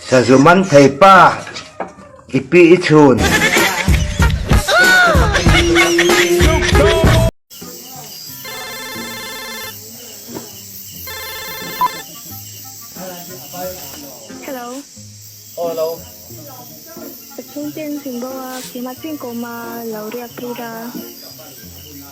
Sazuman thei pa i pi i chhun. Hello. Aw hello. Chhungte an sin boa, keimah chuan kawma lo riak phei ra.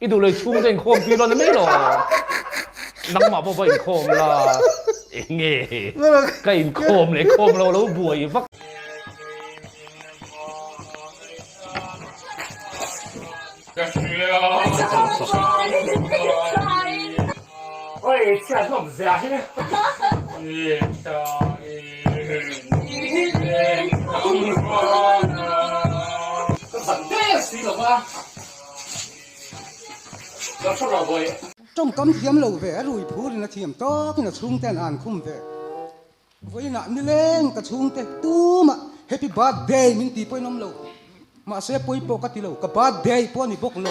I duhlei chhungte in khawm pi lo ni mai law nangmah pawh va in khawm la enge ka in khawm leh khawm lo lo buai vak. Tawngkam thiam lo ve rui phur in a thiam tawk in a chhungte an an khum ve. Vawiin ah nileng ka chhungte tum ah happy birthday min ti pawhin awm lo. Mahse pawi pawh ka ti lo, ka birthday pawh a ni bawk lo.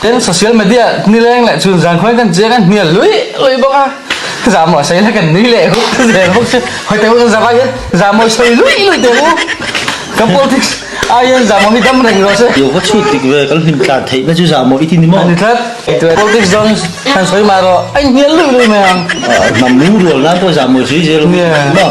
Tin, social media ni leng leh chhun zan khuain kan chiang a hnial lui lui bawk a, za maw sawi la kan nui leh hu ka zel bawk chu, hawi te pawh za vaiin za mawi sawi lui lui teh u, ka politics ai hian za maw hi dam reng rawh se. Yoga chhut dik ve kan hlim tlan theih na chu za maw i ti ni maw? A ni tlat, eitûr politics dawn han sawi mah rawh, a inhnial lui lui mai ang. Hnam lu rual nan pawh za mawi sawi zel rawh i ti ni maw?